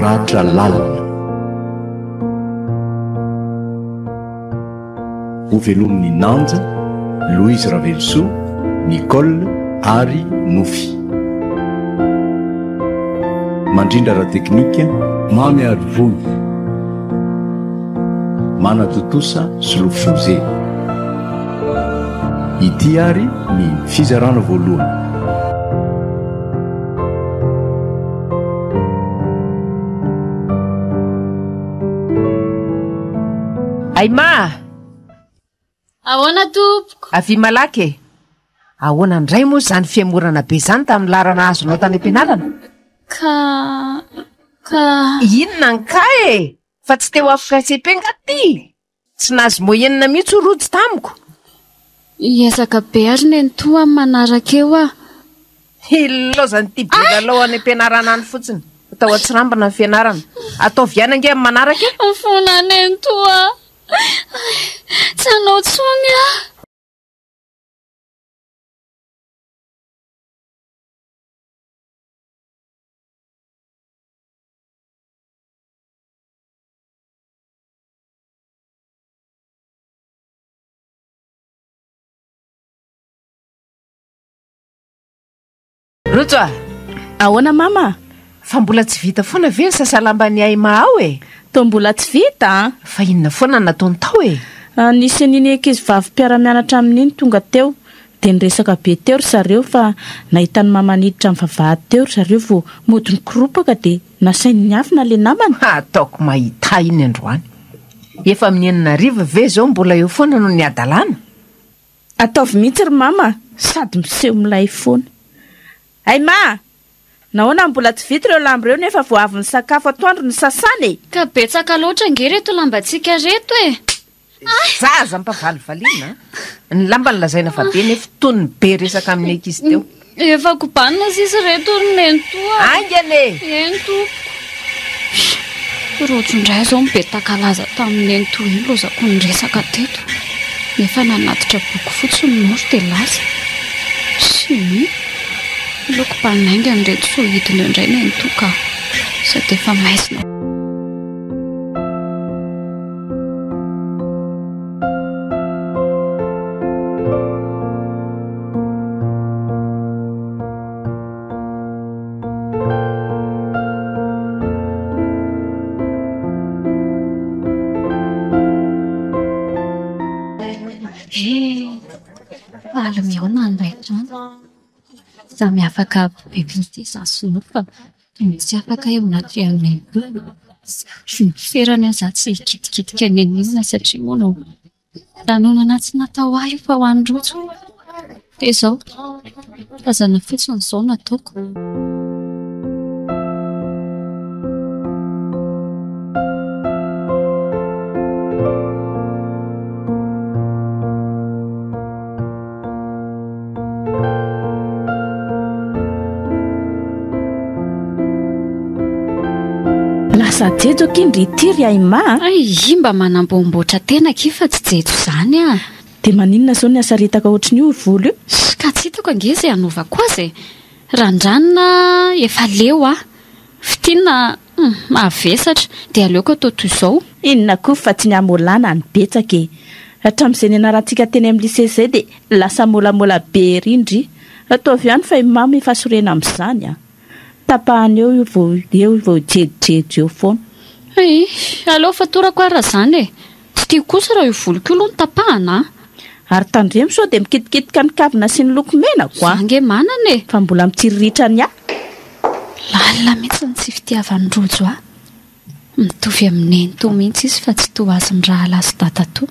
Ratra lalina. Ho velomin'i Nanja, Louise Ravelosoa, Nicole ary Nofy. Mandrindra ara teknika, Mamy Arivony. Manatontosa Solo Fose. Ity ary ny fizarana voalohany. Aima a! Ahoana tompoko? Avia malaky e! Ahoana indray moa izany fihemorana be izany tamin'ny laharana azonao tany am-pianarana? Ka... ka... Inona ankahy e! Fa tsy te ho avy frais CP nga ty? Tsy nahazo moyenne mihitsy hoy Rojo tamiko. Hiezaka be ary nenitoa amin'ny manaraka eo aho. Hilaozan'ity bilalao any am-pianarana any fotsiny. Atao antsirambina ny fianarana. Ataovy ihany ange amin'ny manaraka e! Mifona aho nenitoa a! Tsy hanao intsony aho. Rojo a! Ahoana mama? Fa mbola tsy vita foana ve ny sasalamban'i Haima ao e? Toa mbola tsy vita an! Fa inona foana no nataony tao e? Ah, nisy an'iny ankizivavy mpiara-mianatra aminy iny tonga teo, dia niresaka be teo ry zareo fa nahita an'i mama niditra amin'ny vavahady teo ry zareo vao mody nikoropaka dia. Nasainy niafina le namany. Ha ataoko mahita iny androany. Efa amin'ny enina hariva ve izao mbola eo foana no ny hadalana? Ataovy mihitsy ry mama a! Sady miseho milay foana. Hay ma! Nahoana no mbola tsy vita ireo lamba ireo nefa vao avy nisakafo atoandro ny sasany e! Ka betsaka loatra ange reto lambantsika reto e! Izay zaza ampavalivaliana a! Ny lambany lazaina fa be nefa tony be resaka amin'ny ankizy teo. Efa kobanina sisa ireto ry nento a! Aingana e! Eny tompoko. Rojo indray izao mibetaka laza tamin'i nento iny lozako ny resaka teto nefa nanatitra boky fotsy ny moro dia lasa. Chimie. Aleo kobanina haingana ireto sao hidina eo indray nento ka! Sady efa maizina. Aleo mihaona indray andro. Samy afaka be mihitsy izaho sy Nova. Tsy misy afaka eo anatrehan'ny Tompo. Tsy ny toerany aza tsy hikitikitika eny anilany satria moa no lanonana tsy natao ho ahy io fa ho an'ny rojo. Dia izao, tazana fotsiny izao no ataoko. Lasa jejo akin ry ity ry Aima a. Hay i mba manamboamboatra tena akia fa tsy jejo izany a. Dia maninona izao ny hasaritaka ohatran'io ry volo io? Ka tsy hitako ange izay hanaovako azy e. Randranina a, efa leo aho. Fintinina a. Humm mavesatra, de aleoko atao toy izao. Inona koa fa tsy ny hamolana no betsaka e! Hatramin'izay nianarantsika teny amin'ny lycée izay dia lasa molamola be ery ndry! Ataovy ihany fa i Mamy efa sorena amin'izany an! Tapahany eo io vao eo vao jejojejy eo foana. Eeh! Aleo fatorako ary raha izany e! Tsy tiako kosa raha io voloko io aloha no tapahana a! Ary tandremo sao dia mikitikitika ny kavina sy ny loko menako a! Za nge manana e! Fa mbola mitsiriritra ny ahy. Lalina mihitsy ny tsy fitiavan'i Rojo ahy. Mitovy amin'i Nenitoa mihitsy izy fa tsy toa azy ny rahalahy sy dadatoa.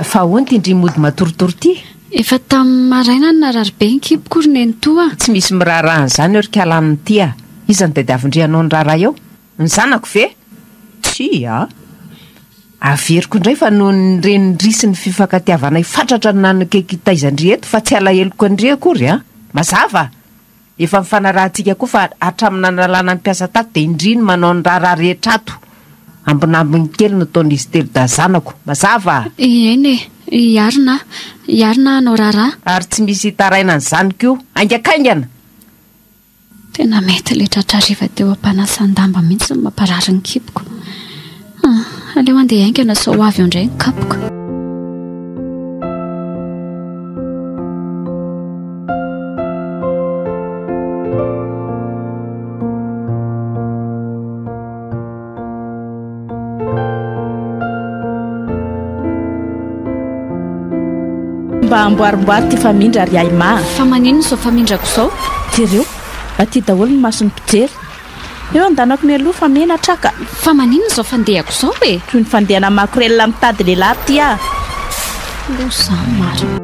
Fa ahoana ty ndry mody matoritory ty? Efa tamin'ny maraina no narary be ny kiboko ry nenitoa a! Tsy misy miraharaha an'izany eo ry kalan ity a! Iza no tadiavin-drianao ny raharaha eo? Ny zanako ve? Tsia a! Averiko indray fa noho ny renindry sy ny fifankatiavanay fatratra no nanakaiky taizan-dry eto fa tsy alaheloko an-dry akory a! Mazava? Efa nifanarahantsika koa fa hatramin'ny nanalana ny mpiasa tato dia indry ny manao ny raharaha rehetra ato. Ambinambiny kely no taon'izy telo dahy zanako. Mazava? Eny e! I Arina. I Arina hanao raharaha. Ary tsy misy hitaraina an'izany koa. Haingakaingana! Tena mety ilay tratra hariva teo am-panasan-damba mihitsy no mamparary ny kiboko. Ah, aleo handeha haingana sao ho avy eo indray ny kapoka. mba amboarimboary ty famindra ry aima fa maninona izao famindrako izao jereo aty daholo ny mason'ny mpijery Eo andanako mialoha fa menatra ka. Fa maninona izao fandehako izao e? Toy ny fandehana makorelina mitady lehilahy ty aho. Lo za marina.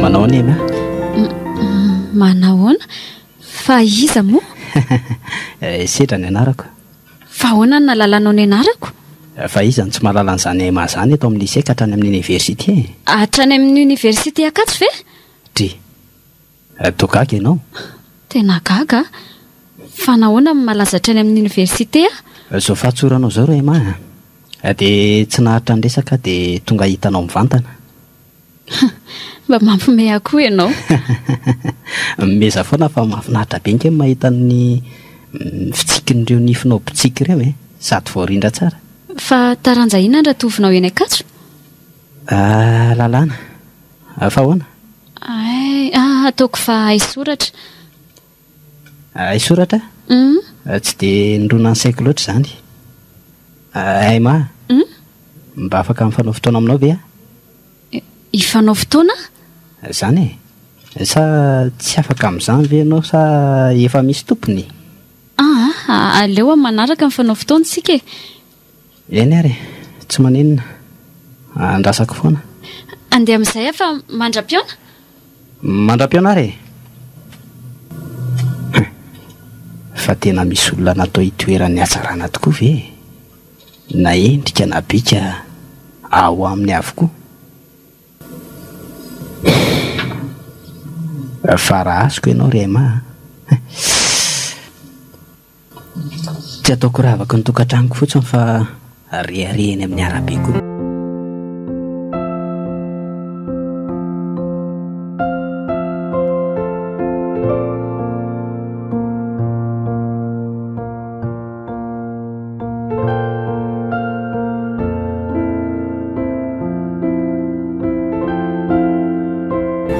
manao any ena manahoana fa iza moa eh, sedra ny anarako fa hoana ny nalalanao ny anarako eh, fa iza ny tsy mahalala an'izany ema zany eto amin'ny lycée ka hatrany amin'ny oniversité hatrany amin'ny oniversité akatsy ve dri Toa gaga ianao? Tena gaga? Fa nahoana no malaza hatrany amin'ny oniversite aho? Izao fahatsoranao izao ry Emma a! Dia tsy naharitra ny resaka aho dia tonga hahita anao mivantana. Mba mampihomehy ahy koa ianao. Mimezaha foana fa mahafinaritra be ange ny mahita ny fitsikin'ireo nifinao botsiaka ireo e! Sady voarindra tsara. Fa taranja inona no ratovinao eny Ankatso? Lalàna. Fa ahoana? Ay, ah, ataoko fa haisoratra. Haisoratra? Uhm. Tsy dia nirona ny saiko loatra izany. Emma, Uhm? mba afaka mifanao fotoana aminao ve aho? Hifanao fotoana? Izany e. Sa tsy afaka amin'izany ve ianao sa efa misy tompony? Ah, aleo amin'ny manaraka mifanao fotoana isika e. Eny ary e! Tsy maninona. Andrasako foana. Andeha amin'izay aho fa mandra-pihaona. Mandra-pihaona ary e! Hum! Fa tena misy olona natao hitoeran'ny hatsarana tokoa ve e! Na endrika na bika ao aminy avokoa. Hum! Farahasiko ianao ry Emma a! Hum! Tsy ataoko ravaky ny tokantranoko fotsiny fa rehareha eny amin'ny arabe koa.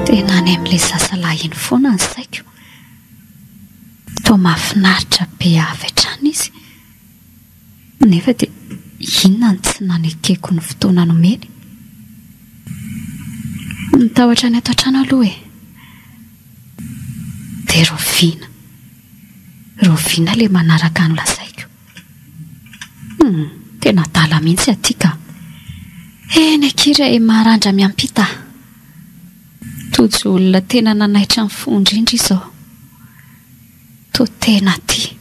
Tena any amin'ilay sasalahy iny foana ny saiko Toa mahafinaritra be avy hatrany izy, nefa dia inona no tsy nanekeko ny fotoana nomeny? Ny tahotra ny ato an-trano aloha e! Dia rahoviana? Rahoviana ilay manaraka ny lazaiko? Humm, tena adala mihitsy aty ka! Eny akia re e! Maharandra miampita. Tojo olona tena nanaitra ny fo indrindra izao. Toa tena tia.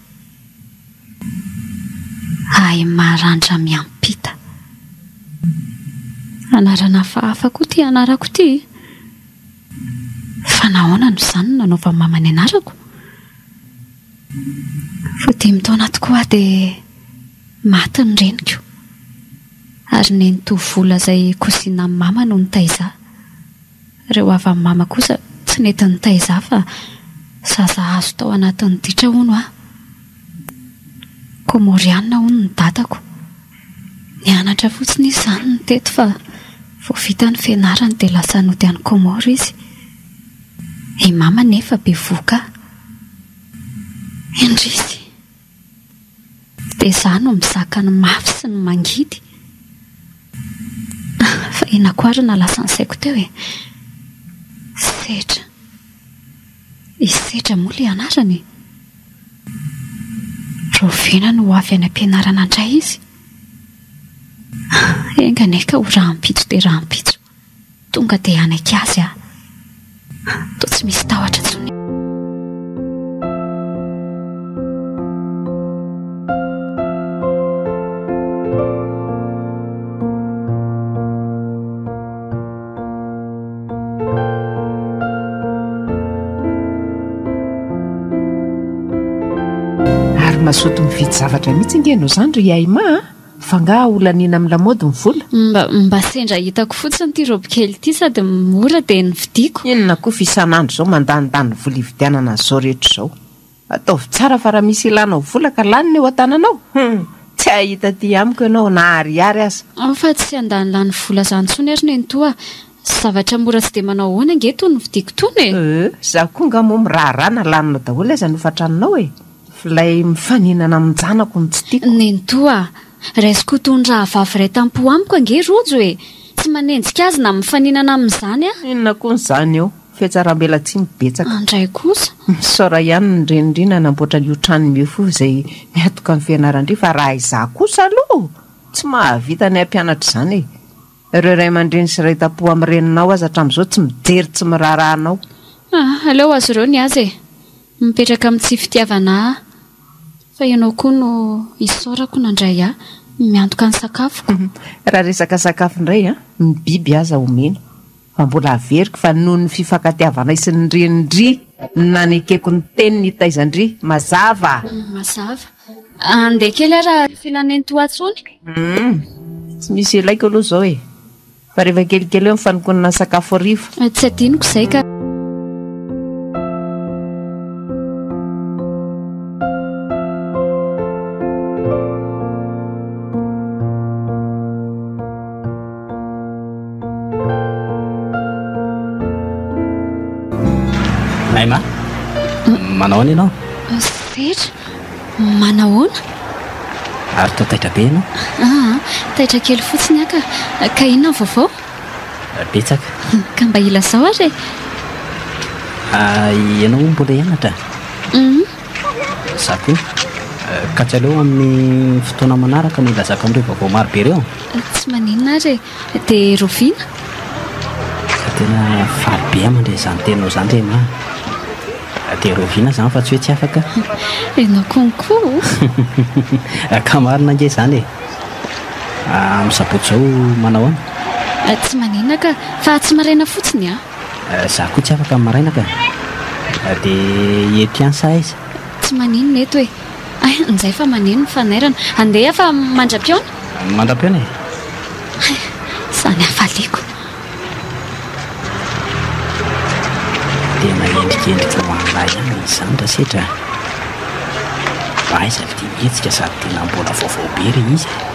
Ahy Marandra miampita. Anarana hafahafa koa ity anarako ity e! Fa nahoana no izaho no nanaovan'i Mama ny anarako? Vao dimy taona tokoa aho dia maty ny reniko. Ary ny nitoa vola zay cousinam mama no nitaiza. Reo havam mama kosa tsy nety nitaiza fa zaza azo tao anatin'ny ditra hono ah. Komoriana hono ny dadako. Nianatra fotsiny izy zany no teto fa vao vita ny fianarany dia lasa nody any Comore izy. I mama nefa bevohoka ah. Indrisy! Dia za no mizaka ny mafy sy ny mangidy? Fa henako ary na lasa ny saiko teo e! Sedra. I Sedra moa ilay anarany e! Rahoviana no ho avy any am-pianarana indray izy? Enga anie ka ho rahampitso dia rahampitso. Tonga dia hanaiky azy aho. Toa tsy misy tahotra intsony. Ary mazoto mividy zavatra mihitsy ange ianao izany ry Haima a! Fa ngaha ho laniana amin'ny lamaody ny vola? Mba mba sendra hitako fotsiny ity robe kely ity sady mora dia novidiako. Inona koa fa isan'andro izao mandanindany vola hividianana an'izao rehetra izao. Ataovy tsara fa raha misy ilanao vola ka laniny eo an-tananao, hum, tsy hahita aty amiko ianao na ariary aza. Ao fa tsy handany lany vola izany intsony ary nenitoa a! Zavatra mora tsy dia manao ahoana ange itony novidiako itony e! Euh, izaho koa ngaha moa miraharaha na laninao daholo aza ny hofan-tranonao e! Ilay mifaninana amin-janako no tsy tiako. Nenitoa a! Raisiko ho toy ny rahavavy iray tam-po amiko ange Rojo e! Tsy manenjika azy na mifaninana amin'izany aho. Inona koa izany eo? Fihatsaram-belatsiny betsaka. Andray kosa? Misaora ihany ny Renindry nanamboatra an'io tranony io fo izay miatoka ny fianaran-dry fa raha izaho kosa aloha tsy mahavita ny hampianatra izany e! Ireo ray aman-dreny sy ray tampo amin'ny reninao aza hatramin'izao tsy mijery tsy miraharaha anao. Ah, aleo ho azy ireo ny azy e! Mipetraka amin'ny tsy fitiavana ahy fa ianao koa no isaorako nandray ahy miantoka ny sakafoko. Raha resaka sakafo indray an, ny biby aza omena. fa mbola averiko fa noho ny fifankatiavanay sy ny renin-dry no nanekeko ny teny nitaizan-dry. Mazava? Mazava. Andeha kely ary ary filan'ny tohatsony. Humm. Tsy misy ilaiko aloha izao e. Fa rehefa kelikely eo ny fanonkonana ny sakafo hariva. Tsy adinoko izay ka. Aima, manahoana ianao? Setra, manahoana? Ary toa taitra be ianao? Ah, taitra kely fotsiny aka. Ka inona ny vaovao? Betsaka. Ka mba ilazao ary e. Ah, ianao mbola hianatra? Mhm. Za koa. Ka tsy aleo amin'ny fotoana manaraka no hilazako an'ireo vaovao maro be ireo? Tsy maninona ary e. Dia rahoviana? Fa tena faly be aho mandre izany teninao izany ry Emma a. Dia rahoviana izany fa tsy hoe tsy afaka? Ianao konko o! Ka marina ange izany e. Amin'ny sabotsy izao manao ahoana? Tsy maninona ka. Fa tsy maraina fotsiny an! Za koa tsy afaka ny maraina ka! De i Epiansa aiza? Tsy maninona eto e! Hay njay fa maneno ny fanairana! Andeha fa mandra-pihaona! Mandra-pihaona e! Hay! Samy hafaliako! Tena endrikendrika ho an'la ihany izany ra setra a! Aiza le dia mihetsika sady tena mbola vaovao be re izy e!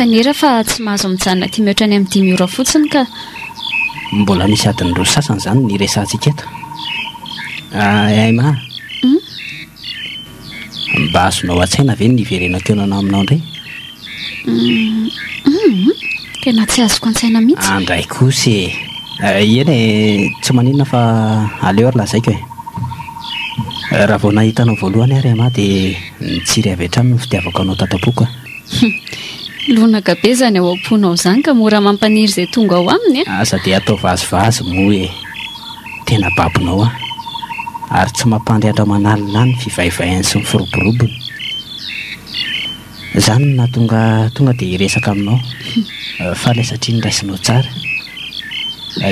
fanera fa tsy mahazo mijanona aty mihoatra any amin'ny dimy ora fotsiny ka mbola misy adiny roa sasany izany ny resantsika eto ah, aima hmm? Mba azonao an-tsaina ve ny niverenao teo nanao aminao indray? Hum, tena tsy azoko an-tsaina mihitsy. Andray kosa e! Eh, eny e, tsy maninona fa aleo ary lazaiko e! Eh, raha vao nahita anao voalohany aho ry Emma dia nitsiry avy hatrany ny fitiavako anao tato am-poko e! Hum, lonaka be izany ao am-ponao izany ka mora mampaniry izay tonga ao aminy e! Aza dia atao vazivazy moa e! Tena babonao aho. Ary tsy mampandry andramanalina ahy ny fivaivaiany sy ny firoborobony. Izany no nahatonga ahy tonga dia hiresaka aminao. Faly aho satria noraisinao tsara.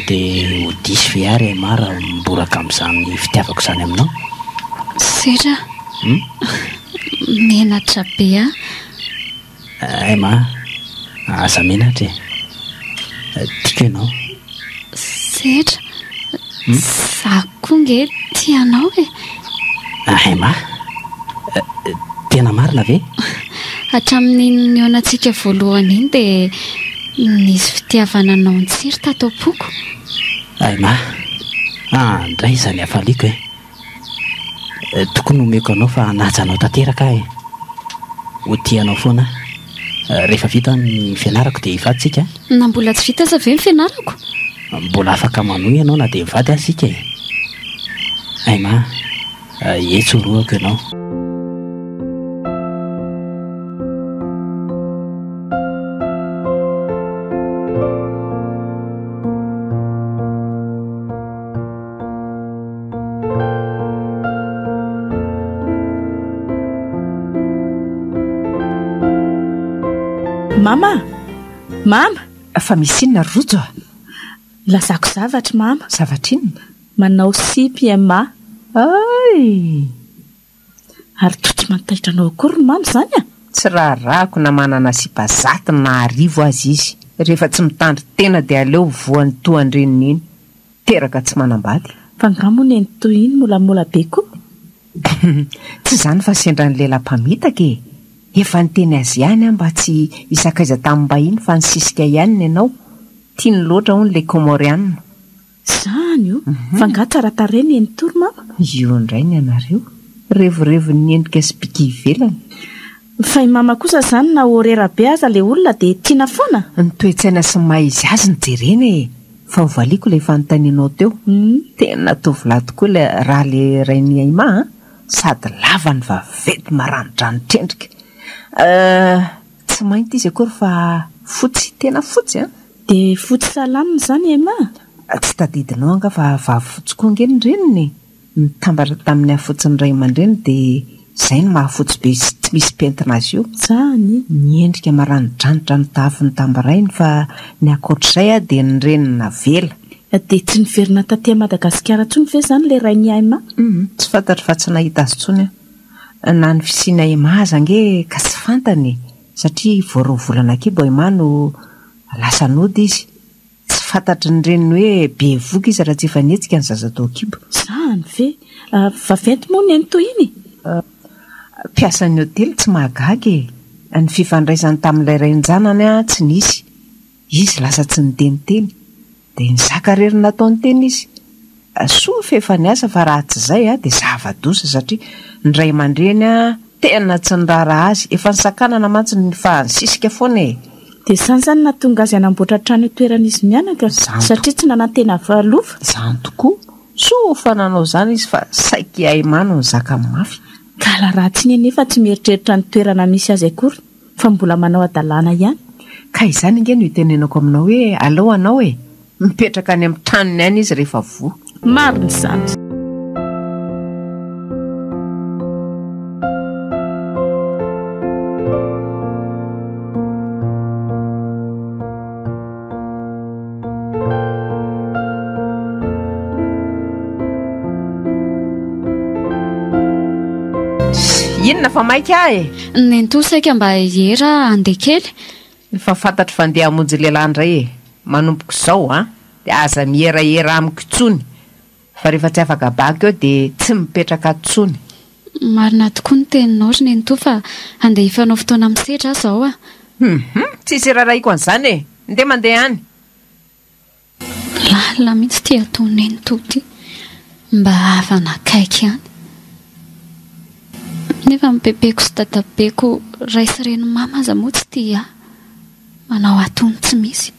Dia ho diso ve aho ry MA raha miboraka amin'izany fitiavako izany aminao? Sera a! Menatra be aho. Hay ma, aza menatra e. Tiako ianao. Setra, za koa nge tia anao e. Hay ma, tena marina ve? Hatramin'iny nihaonantsika voalohany iny dia nisy fitiavana anao nitsiry tato am-poko. Hay ma, andray izany hafaliako e. Tokony omeko anao fa hanaja anao tanteraka aho e! Ho tia anao foana aho. Rehefa vita ny fianarako dia hivady isika an! Na mbola tsy vita aza ve ny fianarako? Mbola afaka manohy ianao na dia mivady aza isika e! Emma a! Etsy horohako ianao. Mama! Mama! Fa misy inona ry Rojo a? Lazako zavatra Mama. Zavatra inona? Manao sipa i Emma. Hay! Ary toa tsy mantaitra anao akory ny mama izany an! Tsy raharahako na manana sipa zato na arivo aza izy, rehefa tsy mitandry tena dia aleo voany toa an-dreniny iny, teraka tsy manambady. Fa nga moa neny toy iny molamola be ko? Tsy izany fa sendra ny lehilahy mpamitaka e! Efa niteny azy ihany aho mba tsy hisakaiza tamin'ny mbahiny fa nisisika ihany ny anao, tiany loatra hono le Comoriana. Izany o! Fa nga tsara tarehy ny eny Tour mama? Io indray ny anareo. Revorevon'ny endrika sy bika ivelany. Fa i mama kosa izany na horera be aza ilay olona dia tiana foana? Ny toe-tsaina sy ny maha izy azy no jerena e! Fa hovaliako ilay fanontanianao teo. Tena tovolahy tokoa ilay raha le Rainiaima a! Sady lava ny vaventy maranidranitr' endrika. Euh. Tsy mainty izy akory fa fotsy, tena fotsy an! Dia fotsy salama izany Emma? Tsy tadidinao angaha fa vavy fotsy koa ange ny reniny e! Nitambatra tamin'ny hafotsin'ny ray aman-dreny dia izay no mahafotsy be sy tsy misy pentina azy io. Zany? Miendrika maranidranitra ny tafo nitambarainy fa ny ankoatr'izay a dia ny reniny navela. Dia tsy niverina taty Madagasikara intsony ve izany ilay rain'i Aima? Humm, tsy fantatro fa tsy nahita azy intsony aho. Na ny fisiana Emma aza ange ka tsy fantany e! Satria vao roa volana kibo Emma no lasa nody izy. Tsy fantatry ny reniny hoe bevoka izy raha tsy efa nihetsika ny zaza tao an-kibo. Izany ve? Vaventy moa ny eny toy iny e! Mpiasan'ny hotely tsy mahagaga e! Ny fifandraisany tamin'ilay rain-janany tsy nisy. Izy lasa tsy niteniteny. Dia nizaka irery ny nataony teny izy. Soa fa efa niasa fa raha tsy izay dia zava-doza satria ny ray aman-dreny tena tsy niraharaha azy. Efa nisakanana mantsy fa nisisika foana e! Dia izany izany no nahatonga azy hanamboatra trano eo toeran'izy mianaka satria tsy nanantena loka. Izany tokoa. Soa fa nanao izany izy fa saiky i Aymano nizaka mafy. Ka la Ratsiny anefa tsy mieritreritra ny toerana misy azy akory. Fa mbola manao hadalana ihany. Ka izany ange no itenenako aminao hoe aleo anao e! Mipetraka any amin'ny tranony any izy rehefa voa. Marina izany. inona fa maika ah e nentoa saika mba hiera andeha kely efa fantatro fa ndeha hamonjy lehilahy indray e manompoko izao a dia aza miherahera amiko intsony Fa rehefa tsy afaka bac eo de tsy mipetraka tsony. Marina tokoa ny teninao ry nenitoa fa handeha hifanao fotoana amin'ny sedra aho izao a! Humm tsisy irarahiako an'izany e! Ndeha mandeha any. Lalina mihitsy ity ataon'i nenitoa ity mba havana akaiky ihany nefa ny bebeko sy dadabeko ray sy reny mama aza moa tsy tia ahy manao atony tsy misy.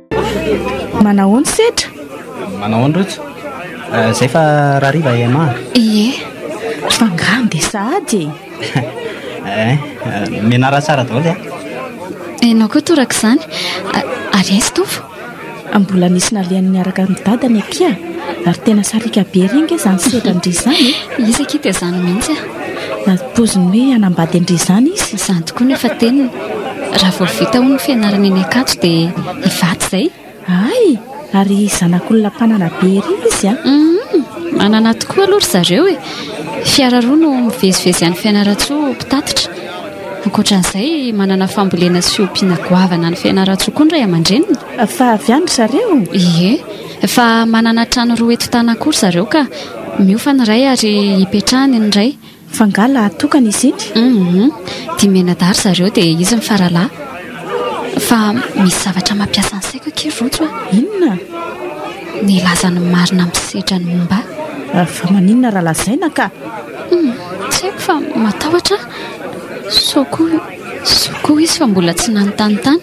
Manahoana setra? Manahoana rojo? Eh, zay fa rariva ema. Ie, fa ngano dia sahady e. Eh, eh, menara tsara daholo ya. Enao koa toraka izany. A- Ary aizy tovo? Mbola nisy nalehany niaraka amin'ny dadany akia. Ary tena sariaka be re nge izany setra ndry izany e. Izy akia dia izany mihitsy ah. Ary poiziny hoe hanambady andrizany izy? Izany tokoa no efa teniny. Raha vao vita hono ny fianarana eny Ankatso dia hivady izay. Hay! Ary zanak'olona mpanana be ery izy an! Humm! Manana tokoa aloha ry zareo e! Fiara roa no mivezivezy any Fianarantsoa mpitatitra. Ankoatran'izay, manana fambolena sy ompiana goavana any Fianarantsoa koa ny ray aman-dreniny. Fa avy any ry zareo? Ie. Efa manana trano roa eto Tana koa ry zareo ka. Miofa ny iray ary ipetrahany ny iray. Fa nga lahy tokana izy iny? Humm. Dimy mianadahy ry zareo dia izy mifaralahy. Fa misy zavatra mampiasa ny saiko akia ry Rojo a! Inona? Ny lazan'ny marina misedra ny momba ahy. Fa maninona raha lazaina ka? Humm. Tsy haiko fa matahotra aho. Sao koa. Soa koa izy fa mbola tsy nanontany tany.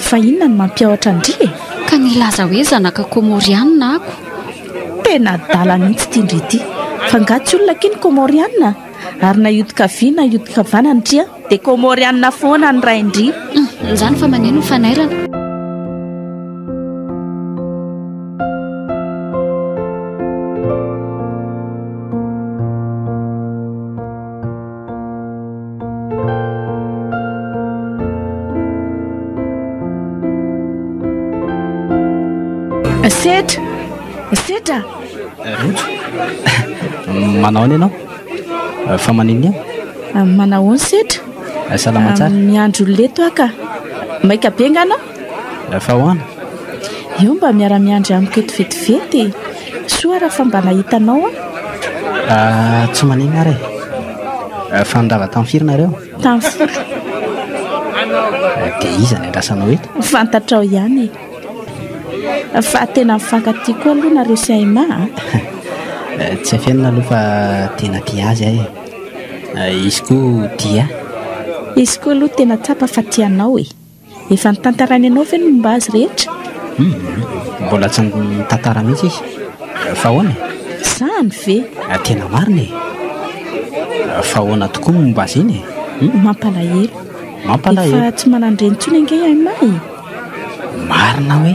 Fa inona no mampiahotra an-dry e? Ka nilaza hoe zanaka Kômôrianina ako. Tena adala mihitsy ity ndry ity. Fa angaha tsy olona akia ny Kômôrianina? Ary na hioty kavia na hioty kavanana ndry an, dia Kômôrianina foana ny rain-dry. Hum, izany fa maneno ny fanairana. Setra! Setra! Manao any ianao? Fa maniny aho? Ah, manao ny setra? Ah, salama tsara. Ah, miandro leto aho ka. Maika be nga anao? Fa ahoana? Eo mba miara-miandry amiko eto vetivety e! Soa ary fa mba nahita anao aho. Ah, tsy maninona ary e! Fa nirava tamin'ny firy nareo? Tamin'ny folo. Dia iza no iandrasanao eto? Fantatrao ihany e! Fa tena mifankatia koa aloha nareo sy Haima a! Tsy afenina aloha fa tena tia azy aho e! Izy koa tia ahy. Izy koa aloha tena tsapa fa tia anao e! Efa notantarainy anao ve ny momba azy rehetra? Humm! Mbola tsy nitantara mihitsy izy. Fa ahoana e? Izany ve? Tena marina e! Fa ahoana tokoa ny momba azy iny e? Humm! Mampalahelo. Mampalahelo. Efa tsy manan-dreny intsony ange i Haima e! Marina hoe?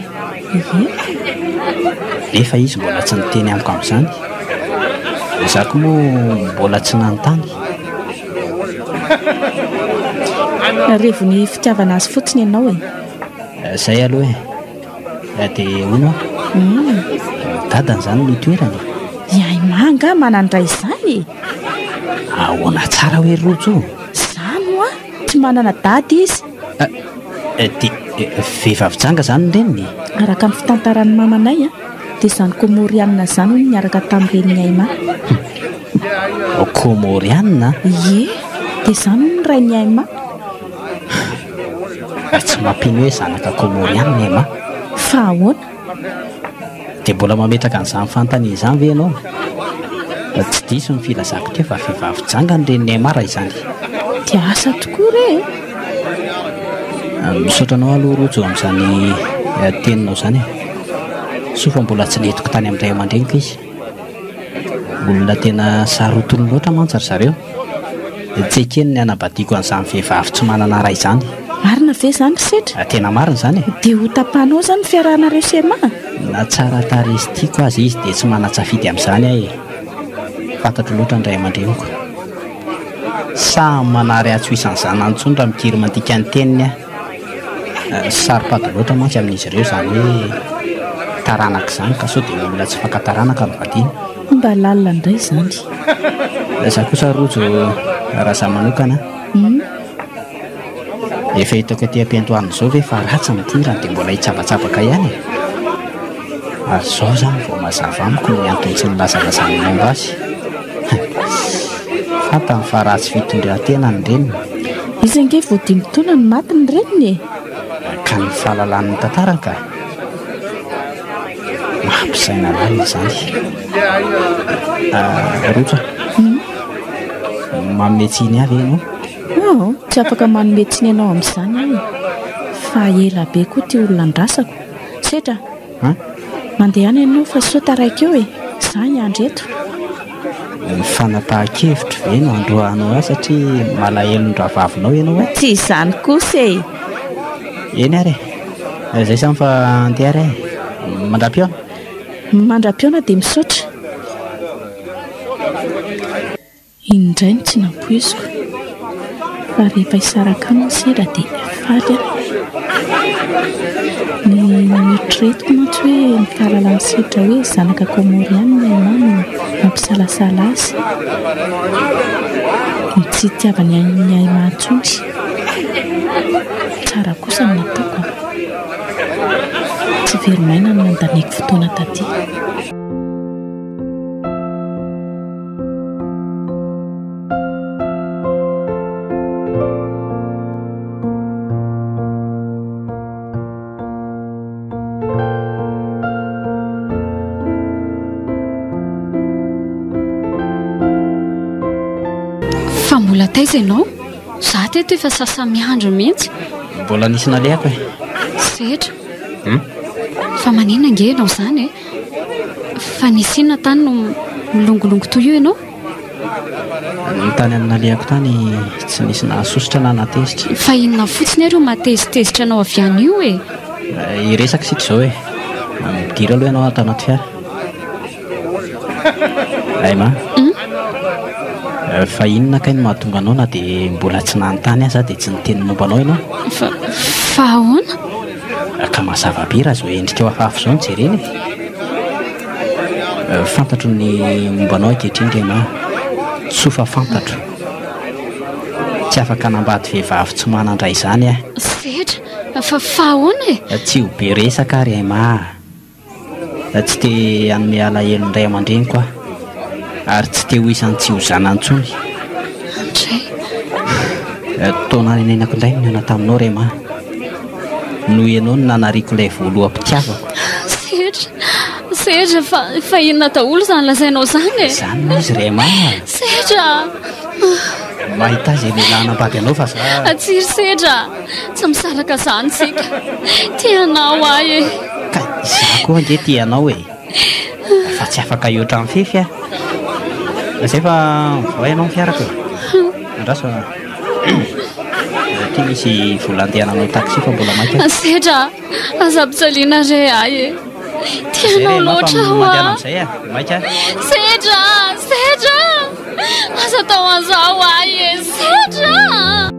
Ie. Nefa izy mbola tsy niteny amiko amin'izany. Izaho koa moa mbola tsy nanontany. Revon'ny fitiavana azy fotsiny ianao e. Eh, zay aloha e. Eh. eh, dia hono aho. Hmm. Dadany izany no toerana. Ihay manga manandra izany e. Ahoana tsara hoe rojo? Izany hoa, tsy manana dady izy. Eh, dia vehivavy janga izany ny reniny? Araka ny fitantaran'ny mamanay a. Dia izany Komorianina izany hono niaraka tamin'i Renin'i Aima. Humm. Komorianina? Ie. Dia izany hono ny Rain'i Aima. Humm. Tsy mampino hoe zanaka Komorianina i Aima. Fa ahoana? Dia mbola mametraka an'izany fanontaniana izany ve ianao? Raha tsy diso ny filazako teo fa vehivavy janga ny Renin'i Aima raha izany. Dia asa tokoa re e! Misaotra anao aloha Rojo amin'izany teninao izany e, soa fa mbola tsy nentiko tany amin'ny ray aman-dreniko izy, olona tena sarotiny loatra mantsy ry zareo, dia tsy ekeny ny hanambadiako an'izany vehivavy tsy manana ray izany. Marina ve izany ry Setra? Tena marina izany e! Dia ho tapahinao izany ny fiarahanareo sy Emma? Na tsara tarehy sy tiako aza izy dia tsy manan-tsafidy amin'izany aho e, fantatro loatra ny ray aman-dreniko. Sa manary ahy tsy ho isan'ny zanany intsony raha mikiry mandika ny teniny aho? Tsy saropady loatra mantsy amin'izy ireo izany hoe taranaka izany ka sao dia olona tsy fakan-taranaka no vadiana. Hoy mba lalina indray izany. Izaho kosa Rojo raha izaho manokana an! Efa hitako aty am-piandohana izao ve fa ratsy ny tirany dia mbola hitsabatsabaka ihany e! ary izao izany vao mazava amiko ny antony tsy nilazalazany ny momba azy. Hum! fantany fa ratsy fitondran-tena ny reniny. Izy ange vao dimy taona no maty ny reniny e! Ka ny fahalalany ny tantara angaha? Mampisaina lalina izany. Ah, Roja, manome tsiny ahy ve ianao? Aho? Tsy afaka manome tsiny anao amin'izany aho e! Fa ela be koa ity olona andrasako. Sedra a! Mandehana ianao fa soa taraiky eo e! Izaho hiandry eto. Ny fanapahan-kevitro ve no androahanao ahy satria malahelon-drahavavinao ianao e? Tsy izany kosa e! Eny ary e! Izay izany fa handeha ary aho e! Mandra-pihaona! Mandra-pihaona dia misaotra! Iny indray no tsy nampoiziko fa rehefa hisaraka aminy ny sendra dia faly aho. Ny noeritreretiko mantsy hoe ny fahalalan'i sedra hoe zanaka Kômôrianina i Emma no nampisalasala azy. Ny tsy hitiavany an'i Aimà intsony tsy tsara kosa ny nataoko an! Tsy very maina ny nandaniako fotoana taty. taiza ianao za teto efa sasamiandro mihitsy mbola nisy nalehako e setra hmm? fa manina nge ianao izany e Fa nisy inona tany no milongolongo toy io ianao? Ny tany amin'ny nalehako tany tsy nisy nahasosotra na nahatezitra. Fa inona fotsiny ary io mahatezitezitra anao avy any io e? Hiresaka isika izao e! Midira aloha ianao ato anaty fiara. Aima a! Fa inona kay no mahatonga anao na dia mbola tsy nanontany aza aho dia tsy niteny momba anao ianao? Fa, fa ahoana? Ka mazava be raha izao endrikao hafahafa izao no jerena e! Fantatro ny momba anao ankehitriny ry Emma. Soa fa fantatro. Tsy afaka hanambady vehivavy tsy manan-dra izany aho. Sedra, fa fa ahoana e? Tsy ho be resaka ary Emma a! Tsy te hanome alahelo ny ray aman-dreniko aho ary tsy te ho isan'ny tsy ho zanany intsony. Andray. Taona renenako indray no nihaona taminao Rema. Noho ianao no nanariako ilay voaloham-pitiavako. Serge, Serge, fa fa inona daholo izany lazainao izany e? Izany moa izy Rema. Serge a! Mahita izay lehilahy hanambady anao fa za. Atsy ry Serge a! Tsy misaraka izany isika. Tia anao ahy e. Ka izaho koa ange tia anao e. Fa tsy afaka hihoatra mifefy aho. Izay fa mivoaha ianao ny fiarako e. Andraso fa aty misy vola andeha hananao taxi fa mbola maika. Sedra a, aza ampijaliana re ahy e. Tia Izay re anao anao fa loatra aho mandeha a. amin'izay a. Maika. Sedra a, sedra a. Aza atao an'izao ahy e. Sedra a.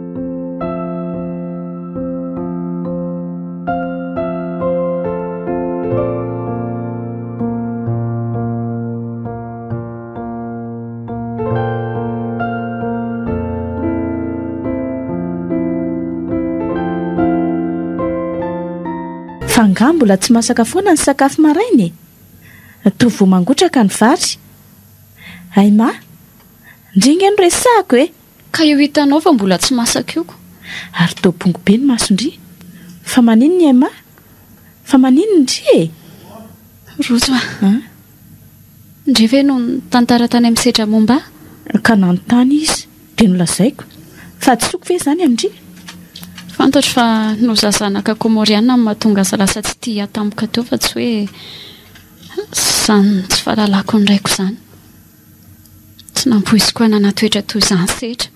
Angaha mbola tsy masaka foana ny sakafo maraina e! Toa vao mangotraka ny vary. Aima, ndry anie no resahako e! Ka io hitanao fa mbola tsy masaka io ko. Ary toa bongo be ny mason-dry. Fa manin ny MA? Fa manin ny ndry e? Rojo a! An? Ndry ve no nitantara tany amin'ny sedra momba ahy? Ka nanontany izy, dia nolazaiko. Fa adisoako ve izany amin-dry? Fantatro fa noho za zanaka Kômôriana no mahatonga azy lasa tsy tia ahy tampoka teo fa tsy hoe izany tsy fahalalako ny raiko izany. Tsy nampoiziko hanana toetra toy izany setra.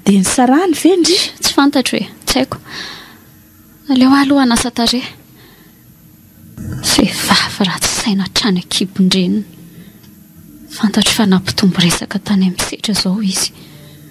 Dia nisarahany ve ndry? Tsy fantatro e! Tsy haiko. Aleo aho aloha hanasa tarehy. Vehivavy ratsy saina hatrany an-kibon-dreniny. Fantatro fa nampitombo resaka tany amin'ny setra izao izy.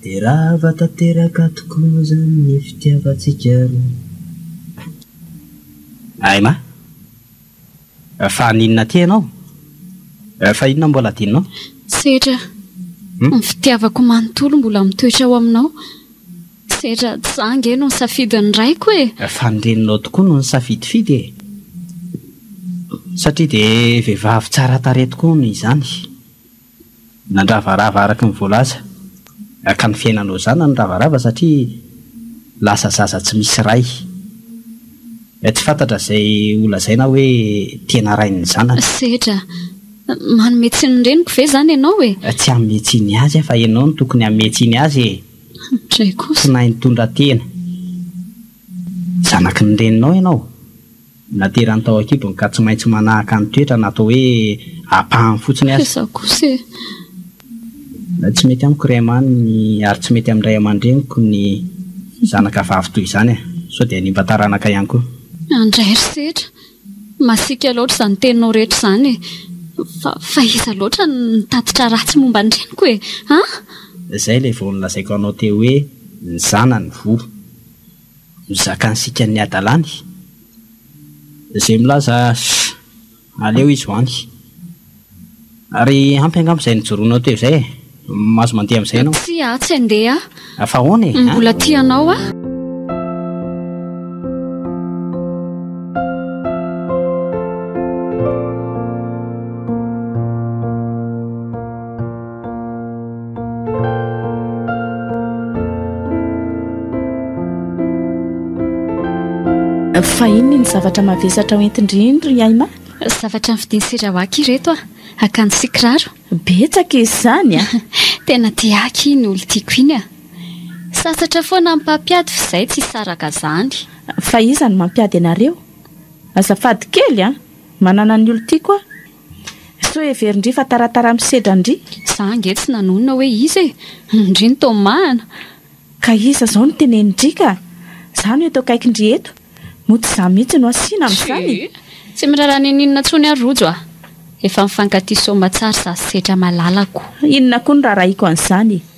Dia rava tanteraka tokoa moa izany ny fitiavantsika roa. Ay ma! Fa haninona aty ianao? Fa inona mbola hadinonao? Sedra, ny fitiavako manontolo mbola mitoetra ao aminao. Sedra, tsy izaho ange no nisafidin'ny raiko e! Fa ny reninao tokoa no nisafidifidy e! Satria dia vehivavy tsara tarehy tokoa hono izany. Nandravarava araka ny voalaza, hakan'ny fiainana ho zanany ravarava satria lasa zaza tsy misy ray. Tsy fantatra izay ho lazaina hoe tena rain'ny zanany. Sedra, manome tsiny ny reniko ve izany ianao e? Tsy hanome tsiny azy aho fa ianao no tokony hanome tsiny azy e! Dray kosa. Tsy nahay nitondra tena. Zanaky ny reninao ianao. Naterany tao an-kibony ka tsy maintsy manahaka ny toetrany atao hoe ampahany fotsiny aza. Fa izaho kosa e! Tsy mety amiko ry Aimani ary tsy mety amin'ny ray aman-dreniko ny zanaka vavy toy izany e! Sao dia hanimba taranaka ihany koa. Andray ry Sedra! Masiaka loatra izany teninao rehetra izany e! Fa fa iza loatra no nitatitra ratsy momba ny reniko e! An! Izay ilay vao nolazaiko anao teo hoe ny zanany voa. no zakan'sika ny hadalany ze milaza aleo izy ho any ary ampy angamba izay nijoroanao teo izay e! mahazo mandeha amin'izay ianao. Tsia aho tsy handeha ah! Fa ahoana e? Mbola tia anao aho. Fa inona ny zavatra mavesatra hoentin-dry indry ry Aima? Zavatra ny vidin'i Sirawaky ireto ah, akanjo sy kiraro. Betsaka izy izany ah. Tena tiaky iny olo tiako iny ah. Sasatra foana ny mpampiady f'izay tsy saraka izany. Fa iza no mampiady anareo? Azafady kely ah, manana ny olo tiako ah. Sao heverin-dry fa taratara misedran-dry? Za ange tsy nanonona hoe iza e! Ndry ny tomahana! Ka iza izao no tenenin-dry ka? Za no eto akaikin-dry eto! Moa tsy za mihitsy no asiana amin'izany e! Tsy miraharaha n'ininona intsony aho Rojo a! Efa mifankatia soamatsara sady setra malalako. Inona koa no raharahiako an'izany e!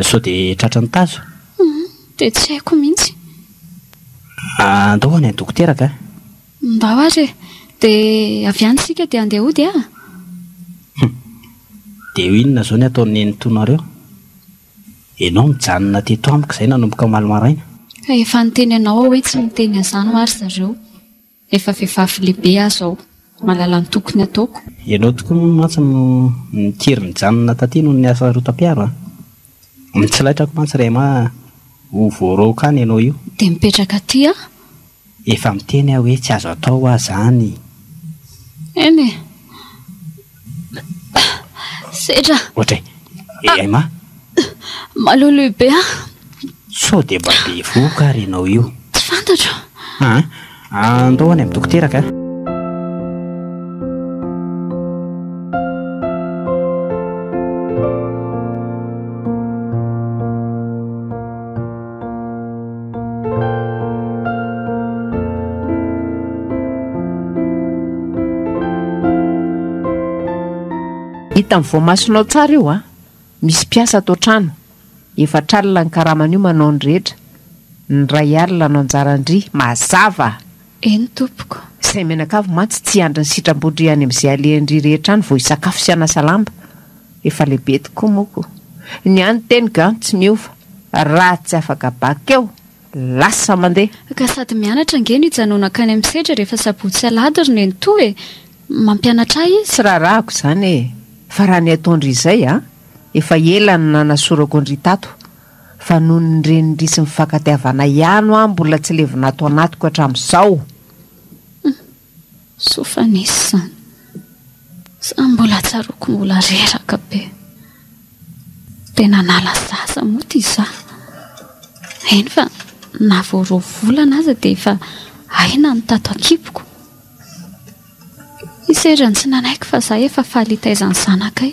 Sao dia tratra ny tazo? Humm, dia tsy haiko mihitsy. Andao ho any an-dokotera ka. Ndao ary e! Dia avy any isika dia handeha hody aa! Humm, dia eo inona izao ny ataon'i nenitoanareo? Ianao nijanona teto amiko izay nanomboka omaly maraina. Ka efa niteny anao aho hoe tsy miteny an'izany ho'a ry zareo. Efa vehivavy lehibe aho zao. Mahalala ny tokony ataoko. Ianao tokoa moa mantsy no nikiry nijanona taty noho ny asa rotam-piaro a! Mitsilaitra aho mantsy Rema a! Ho voaraoka any ianao io. Dia mipetraka aty aho. Efa miteny aho hoe tsy azo atao ho'a zany. Eny e! Sedra. Ohatry eh, eh ma. Maloloy be ah. Sao dia mba bevohoka ary ianao io. Tsy fantatro. Ah, andao any amin'ny dokoteraka ah. Hitan'ny voamasonao tsara io a! Misy mpiasa ato an-trano, efatra alina ny karaman'io manao ny rehetra, ny iray alina no anjaran-dry, mazava! Eny tompoko. Izay mianakavy mantsy tsy hiandry ny sitram-bodry any amin'izay alehan-dry rehetra any vao hisakafo sy hanasa lamba. Efa lehibe tokoa moko. Ny ahy ny teny gan tsy miova. Raha tsy afaka bakeo, lasa mandeha. Ka sady mianatra ange no hijanona hankany amin'ny sedra rehefa sabotsy sy alahady ry nenitoa e! Mampianatra ahy izy. Tsy raharahako izany e! Fa raha ny ataon-dry izay an! Efa ela no nanasorako an-dry tato. fa noho ny renir'isy mifankatiavana ihany hoa mbola tsy levona ato anatiko hatramin'izao. Humm. Soa fa nisy izany. Sa mbola tsaroako mbola reraka be. Dia nanala zaza moa ity izaho. Eny fa na vao roa volana aza dia efa aina ny tato an-kiboko. Hisy erany tsy nanaiky fa izaho efa faly hitaiza ny zanakay.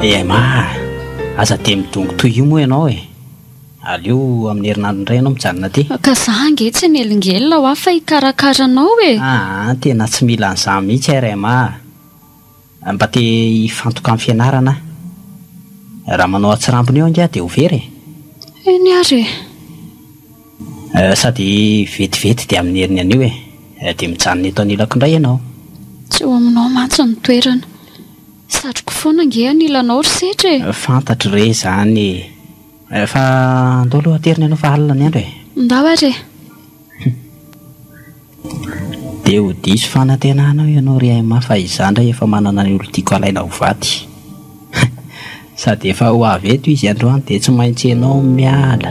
Emma, aza dia midongy toy io moa ianao e! Aleo amin'ny herinandro indray ianao mijanona aty. Ka za ange tsy mielingelina hoa fa hikarakara anao e! Aa, tena tsy mila an'izany mihitsy aho ry Emma a! Mba te hifantoka amin'ny fianarana aho. Raha manao atsirambina eo ange aho dia ho very e! Eny ary e! Sady vetivety dia amin'ny heriny anio e! Dia mijanona eto anilako indray ianao. Tsy eo aminao mantsy ny toerana. Satriko foana ange anilanao ry setra e! Fantatro re izany e! Fa andao aloha aterina ianao fa alina ny andro e! Ndao ary e! Dia ho diso fanantenana ao ianao ry Aima fa izaho indray efa manana ny olon-tiako alaina ho vady. Hein! Sady efa ho avy eto izy androany dia tsy maintsy ianao no miala.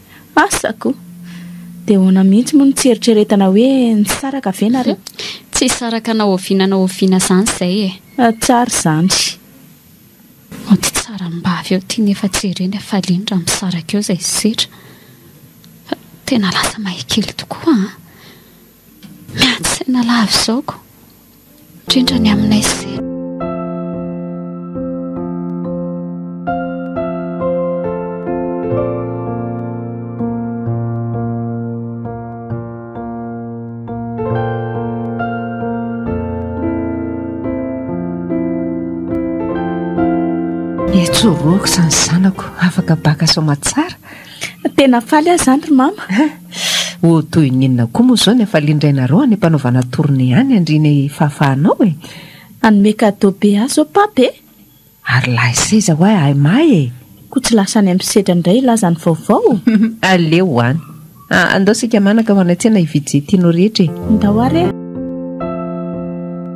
Asako! Dia ahoana mihitsy moa no tsy eritreretana hoe nisaraka ve nareo? Tsy hisaraka na oviana na oviana izany izay e! Tsara izany! Mody tsara am-bavy eo ity nefa tsy ireny hafaliany raha misaraka eo izay zetra. Fa tena lasa mahia kely tokoa an! Miady saina lava izao ko! Indrindra ny aminay sendra. Etsy ho roa aoka izany zanako, afaka baka soamantsara. Tena faly aho izany ry Mama. Ho toy ny inona koa moa izao ny hafalian-drainareo any am-panaovana tournée any andry ny fahafahanao e? Hanome cadeau be ahy izao Pape e! Ary lahy seza ho'a ahy mahy e! Koa tsy lasa any amin'ny sedra indray hilaza ny vaovao? Aleo any. Andao isika manaka ho any an-tsena hividy izay tianao rehetra e! Ndao ary e!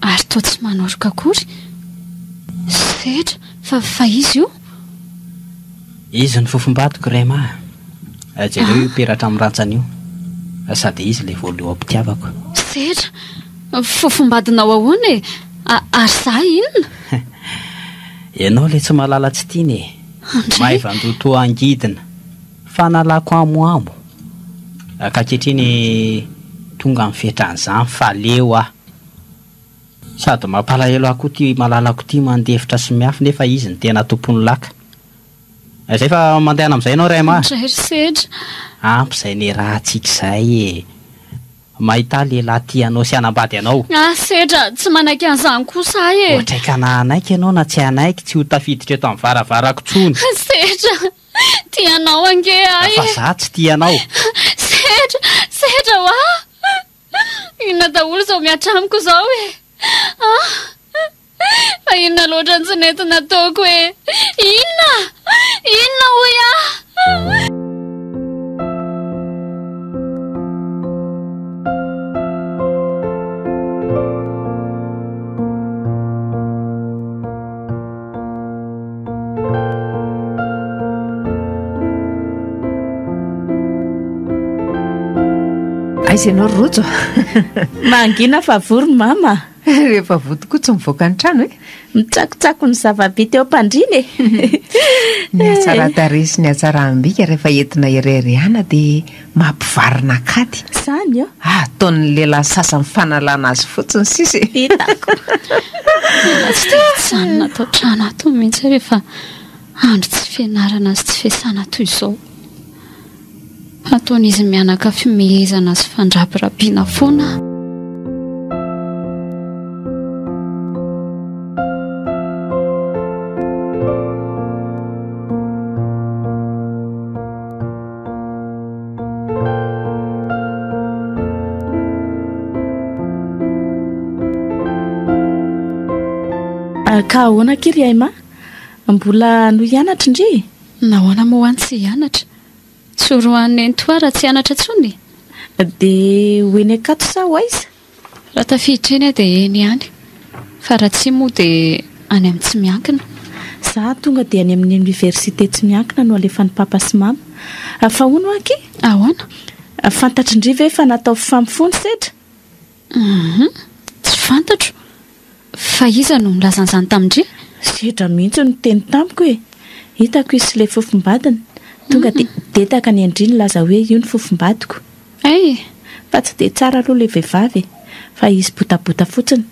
ary toa tsy manoroka akory. Sehatra fa fa izy io? Izy ny fofom-badiko Rema a! Jereo io peratra amin'ny rantsany io, sady izy ilay voaloha-pitiavako. Sehatra, fofom-badinao ahoana e? Ary izaho inona? Ianao ilay tsy malala tsy tiana e! Maivan-doha toa angidina. Fanalako amoamo ankaketriny tonga amin'ny fetran'izany fa leo aho. Sady mampalahelo ahy koa ity malalako ity mandefitra sy miafy nefa izy no tena tompon'ny laka. Izay fa mandehana amin'izay ianao ry Emma a! Indray ry Sedra. Ampy izay niarahantsika izay e! Mahita lehilahy tia anao sy hanambady anao. Ah, Sedra, tsy manaiky an'izany kosa aho e! Ohatr'aikana hanaiky ianao na tsy hanaiky tsy ho tafiditra eto amin'ny varavarako intsony. Sedra! Tia anao ange ahy. Fa za tsy tia anao. Sedra, sedra hoa. Inona daholo izao mihatra amiko izao e. Ah! Fa inona loatra ny tsy nety nataoko e. Inona? Inona hoy aho? aiza ianao ry rojo mangina fa vory ny mama rehefa voa tokoa tsy mivoaka ny trano e mitsakotsako ny zava-bita eo am-pandrina e ny hatsaradare sy ny hatsaraham-bika rehefa entina irery ihana dia Mampivarina kady. Zany a! Ataon'ny lehilahy sasany fanalana azy fotsiny sisa e! Hitako! Tena tsy dia mijanona ato an-trano ato mihitsy aho rehefa andro tsy fianarana sy tsy fiasana toy izao. Ataon'izy mianaka fimehezana sy fandrabirabiana foana aho. Ka ahoana akia ry Aima? Mbola hanohy hianatra ndry? Nahoana moa ho'a ny tsy hianatra? Tsy ho roahan'i Nenitoa raha tsy hianatra intsony e! Dia ho eny Ankatso sa ho aiza? Raha tafiditra eny aho dia eny ihany, fa raha tsia moa dia any amin'ny tsy miankina. Za tonga dia any amin'ny oniversite tsy miankina no alefan'i Papa sy Mama. Fa hono ho'a akia? Ahoana? Fantatry ndry ve fa natao fifampifoha ny sedra? Humm, tsy fantatro. Fa iza no nilaza an'izany tamin-dry? Sedra mihitsy no niteny tamiko e! Hitako izy sy ilay fofombadiny. Tonga dia dedaka ny an-dry nilaza hoe io ny fofombadiko. Ay! Fa tsy dia tsara aloha ilay vehivavy e! Fa izy botabota fotsiny.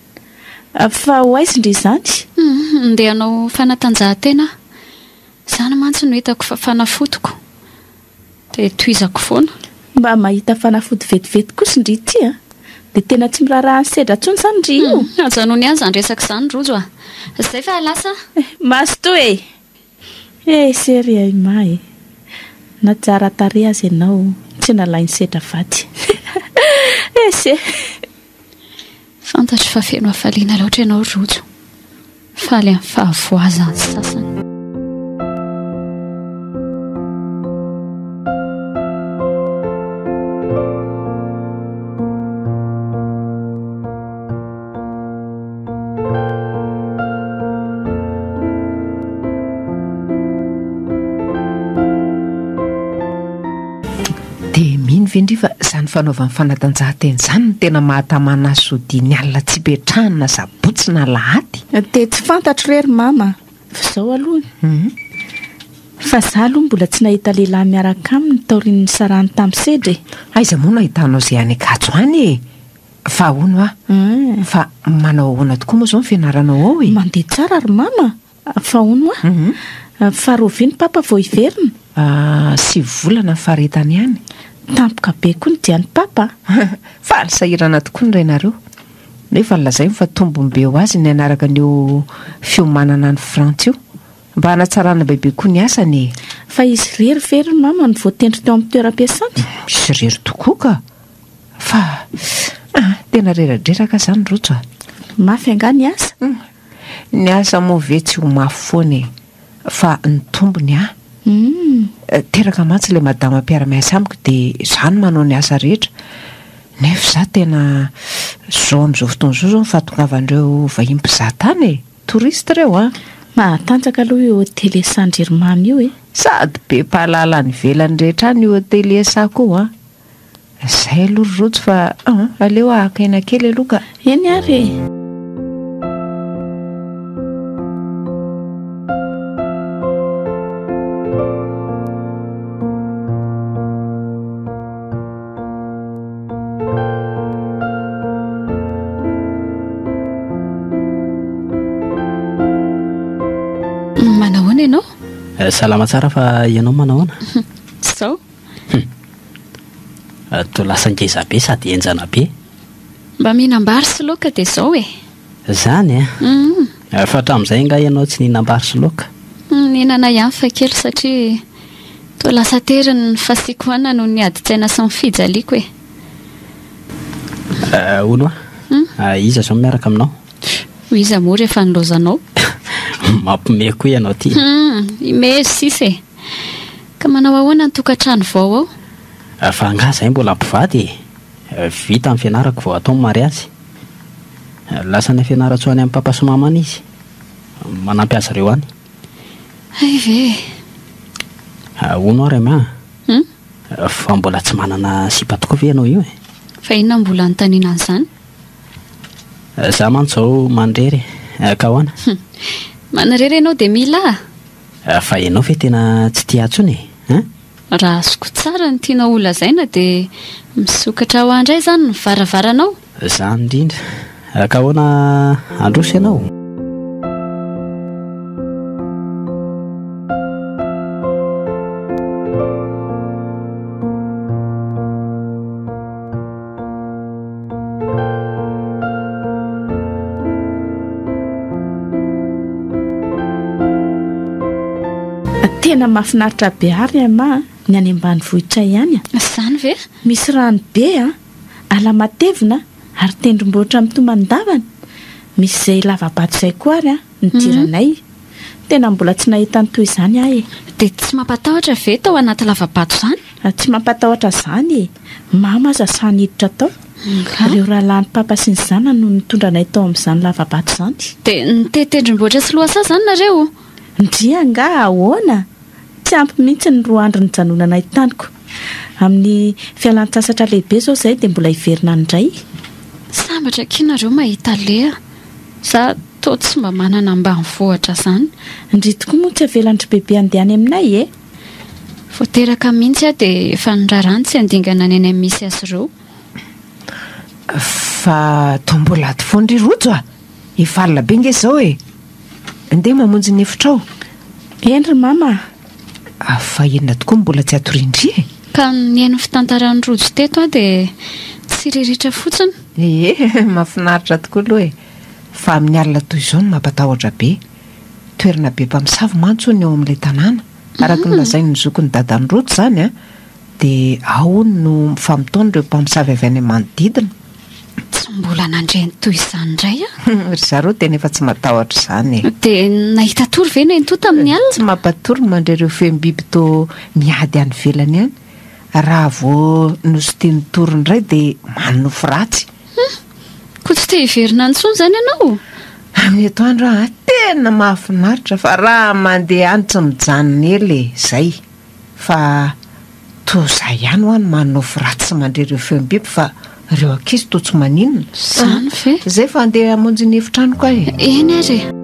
Fa ho aiza indry izany? Ndeha hanao fanatanjahantena aho. Izany mantsy no hitako fa fanafodiko. Dia tohizako foana. Mba mahita fanafody vetivety kosa ndry ity a! Dia tena tsy miraharaha ny sedra intsony izany ndry io! Ajanony ihany izany resaka izany Rojo a! Izay fa lasa a! Eh! Mazotoa e! Eh! Chérie ay ma e! Na tsara tarehy aza ianao tsy nalain'ny sedra vady! Ese! Fantatro fa feno hafaliana loatra ianao Rojo. Faly amin'ny fahavoazan'ny sasany. ve ndry fa izany fanaovany fanatanjahantena izany no tena mahatamana azy sodiany alina tsy hipetrahany na botsy na lahady. Dia tsy fantatro re ry mama fa izao aloha fa za aloha mbola tsy nahita lehilahy miaraka aminy taorian'ny nisarahany tamin'i Sedra e. Aiza moa no ahitanao izay any Ankatso any e? Fa hono aho. Fa manao ahoana tokoa moa izao ny fianaranao ao e? Mandeha tsara ry mama. Fa hono hoa? Fa rovia ny papa vao hiverina? Sivy volana ny faharetany ihany. Tampoka be koa ny dian'ny papa a! Faly sahirana tokoa ny rainareo. Nefa lazainy fa tombony be ho azy ny hanaraka an'io fiomanana any Frantsa io. Mba hanatsarana bebe koa ny asany e! Fa izy irery ve ry mama no voatendry teo amin'ny toeram-piasany? Izy irery tokoa ka! Fa ah, tena reradreraka izany Rojo a! Mafy angaha ny asa? Ny aza moa ve tsy ho mafy foana e! Fa ny tombony a! Teraka mantsy ilay madama mpiara-miasa amiko dia izaho no manao ny asa rehetra nefa izaho tena zao amin'izao fotoana izao izao ny fahatongavan'ireo vahiny mpizaha tany e! Touristes ireo a! Mahatanjaka aloha io hotelier Sandririmamy io e! Sady be mpahalala any ivelany rehetra any io hotelier Sako io a! Zay aloha ry Rojo fa an! aleo hahaka aina kely aloha ka! Eny ary e! Manahoana ianao? Salama tsara fa ianao manahoana? Zao. Hum. Toa lasa ngeza be sady henjana be. Mba mihinam-bary sy laoka dia izao e! Izany an! Hum. Fa hatramin'izay angaha ianao tsy nihinam-bary sy laoka? Hum, nihinana ihany fa kely satria toa lasa tery ny fasiako hanina noho ny adin-tsaina sy ny fijaliako e! Hono hoa? Hum. Iza izao no miaraka aminao? Ho iza moa rehefa nilaozanao? Mampimehy koa ianao ity! Hum, imehy sisa e! Ka manao ahoana ny tokantrano vao ao? Fa angaha zahay mbola mpivady e! Vita ny fianarako vao atao ny mariazy. Lasa any Fianarantsoa any amin'i Papa sy Mama any izy. Manampy azy ireo any. Hay ve e! Ahoana ary angaha? Hum? Fa mbola tsy manana sipa tokoa ve ianao io e? Fa inona no mbola anontaniana an'izany? Za mantsy izao manirery e! Ka ahoana? Hum! Manirery ianao dia mila? Fa ianao ve tena tsy tia ahy tsony e? Hein? Raha azoko tsara ny tianao ho lazaina dia misokatra ho ahy indray izany ny varavaranao? Izany indrindra. Ka ahoana handroso ianao? Tena mahafinaritra be ary ry Aima a, ny any ambanivohitra ihany a. Izany ve? Misy rano be a, ala matevina ary tendrombohitra mitomany davany. Misy izay lava-bato izay koa ary a. nidiranay. Tena mbola tsy nahita ny toy izany aho e! Dia tsy mampatahotra ve tao anaty lava-bato izany? Tsy mampatahotra izany e! Mamo aza sahy niditra tao. Ireo rahalahin'i Papa sy ny zanany no nitondra anay tao amin'izany lava-bato izany. Dia nitety tendrombohitra sy lohasaha izany nareo o? Ndryy angaha ahoana? Tsy ampy mihitsy ny roa andro nijanonanay taniko. Amin'ny fialan-tsasatra lehibe izao izahay dia mbola hiverina any indray. Sambatra akia nareo mahita leha. Za. Toa tsy mba manana ambanivohitra zany. Ndry tokoa moa tsy avelandry bebe andeha any aminay e! Vao teraka mihintsy aho dia efa nirarany tsy handingana ny any amin'ny misy azy ireo. Fa toa mbola ato foana ry Rojo a! Efa alina be nge izao e! Ndeha mamonjy ny efitrao. Eny ry Mama a! Fa inona tokoa no mbola tsy atorian-dry e? Ka nihaino ny fitantaran'i Rojo teto aho dia tsy riritra fotsiny. Ee, mahafinaritra tokoa aloha e! Fa amin'ny alina toy izao no mampatahotra be. Toerana be mpamosavy mantsy hono ny ao amin'ilay tanàna. Araka ny lazain'ny zokin'i dadan'i Rojo izany an, dia ao hono no mifamotoana ireo mpamosavy avy any amin'ny manodidina. Tsy mbola nandre ny toy izany indray aho. Ry zareo tena efa tsy matahotra izany e. Dia nahita tory ve Nento tamin'ny alina? Tsy mampatory ny mandre ireo feom-biby toa miady any ivelany any. Raha vao nositin'ny tory indray dia manonofy ratsy. Humm! Koa tsy te hiverina any intsony izany ianao? Any eto any raha tena mahafinaritra fa raha mandeha any tsy mijanona ela e, izay. Fa toa izaho ihany ho'a no manonofy ratsy sy mandre ireo feom-biby fa ireo ankizy toa tsy maninona. Izany ve? Izay fa handeha hamonjy ny efitranoko aho e. Eny ary e.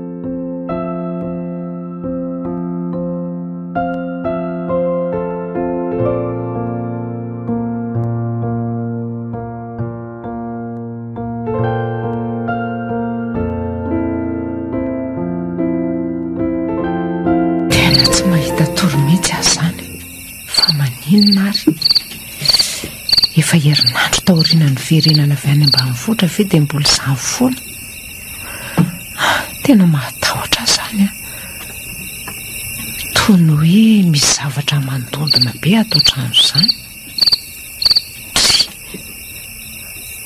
firenana avy any ambanivohitra ve dia mbola izany foana tena mahatahotra zany a toy ny hoe misy zavatra mandondona be ato an-trano izany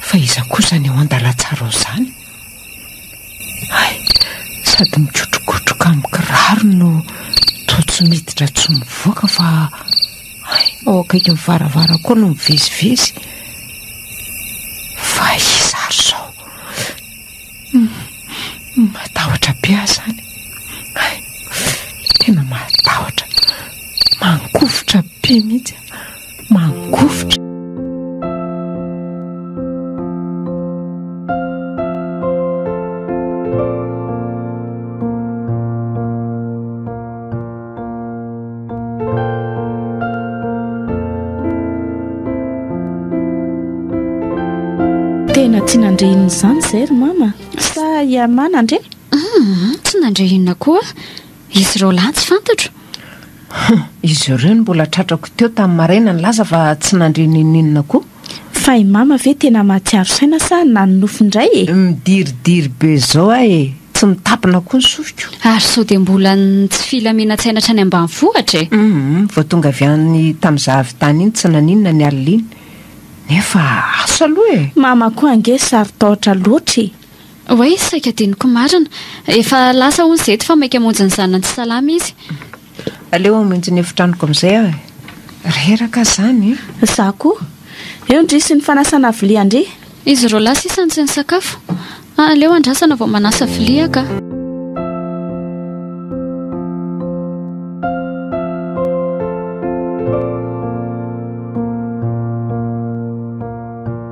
Fa iza kosa ny eo an-dalantsara ao izany? Hay, sady mikotrokotroka amin'ny kirarony no toa tsy miditra tsy mivoaka fa hay, ao akaikin'ny varavara koa no mivezivezy. Fa iza ary izao? Hum, matahotra be aho izany. Hay, tena matahotra, mangovitra be mihitsy aho. Mangovitra. Tena tsy nandre inona izany izay ry mama? Sa ianà nandre? Tsy nandre inona koa. Izy ireo lahy tsy fantatro? Izy ireo no mbola tratrako teo tamin'ny maraina nilaza fa tsy nandre n'inon'inona koa. Fa i Mama ve tena mahatsiaro saina sa na ny nofy indray e? Midiridiry be izao aho e! Tsy mitapina koa ny sofiko. Ary sao dia mbola ny tsy filaminan-tsaina hatrany ambanivohitra e! Humm, vao tonga avy any tamin'izaho avy tany iny tsy naninona ny alina iny. Nefa asa aloha e! Mama koa ange sarotahotra loatra e! Oay, saika adinoko marina. Efa lasa hono izy eto fa maika hamonjy ny zanany tsy salama izy. Aleo hamonjy ny efitranoko amin'izay aho e. Reraka izany e. Izaho koa. Eo ndry sy ny fanasana vilia ndry. Izy roa lahy sisa no tsy nisakafo. Aleo andrasana vao manasa vilia ka.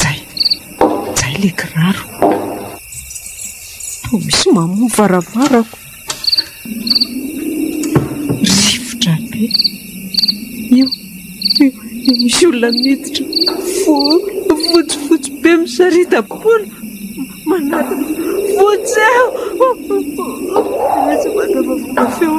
Jay! Jay le kiraro. Toa misy mamoha varavarako. Rivotra be. Io, io, io misy olona miditra. Fo, fotsy, fotsy be misarita-poana. Manarina. Fotsy aho. Tsy mandava feo.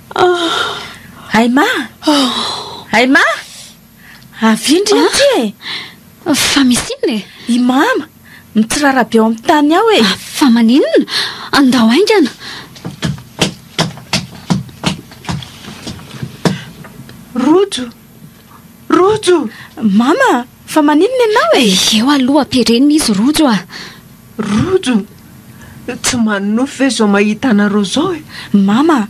Aima! Aima! Avia indry aty e! Fa misy inona e? I Mama, mitsirara be ao amin'ny tany ao e! Fa maninona? Andao haingana! Rojo! Rojo! Mama, fa maninona ianao e? Eo aloha ampirenina izy Rojo a! Rojo! Tsy manonofy ve izao mahita anareo izao e? Mama,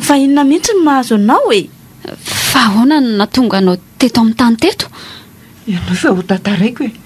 fa inona mihitsy no mahazo anao e? Fa ahoana no nahatonga anao teto amin'ny tany teto? Ianao fa ho tantaraiko e!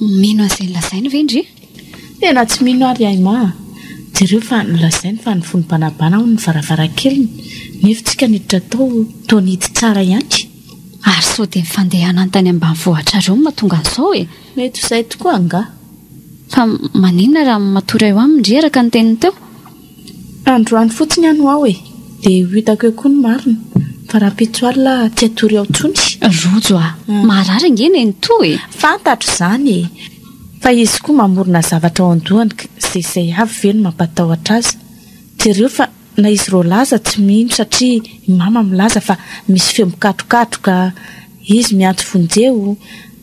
Mino an'izay nolazainy ve ndry? Tena tsy mino ary ahy ma a! Jereo fa nolazainy fa ny fon'ny banabana hono ny varavarankeliny nefa tsika niditra tao toa nety tsara ihany. Ary sao dia ny fandehanany tany ambanivohitrareo no mahatonga an'izao e! Mety ho izay tokoa angaha. Fa maninona raha matory eo aminy ndry araka ny teniny teo? Androany fotsiny aho no ao e! Dia ho hitako eo koa ny marina, fa rahampitso alina tsy hatory ao intsony. Rojo a! Maharary ange nenitoa e! Fantatro izany e! Fa izy koa mamorona zavatra ao an-dohany ka izay izay avy ve no mampatahotra azy? Jereo fa na izy Roland aza tsy mino satria i Mama milaza fa misy feo mikatrokatroka, izy miantso vonjeo,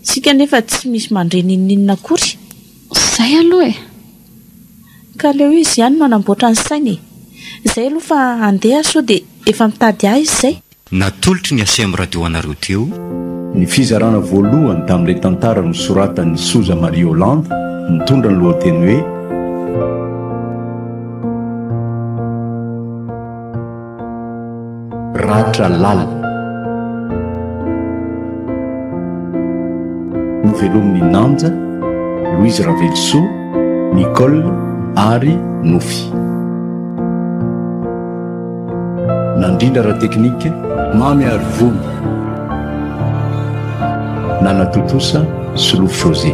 isika anefa tsy misy mandre n'inon'inona akory. Izay aloha e! Ka aleo izy ihany no hanamboatra ny sainy e! Izay aloha fa handeha sao dia efa mitady ahy izy izay? Natolotry ny Acm Radio anareo teo. Ny fizarana voalohany tamin'ilay tantara nosoratan'i Sousa Maria Holland mitondra ny lohateny hoe. Ratra lalina. Novelomin'i Nanja, Louise Ravelosoa, Nicole ary Nofy. Nandrindra ara-teknika, Mamy Arivony. Nanatontosa, Solofo José.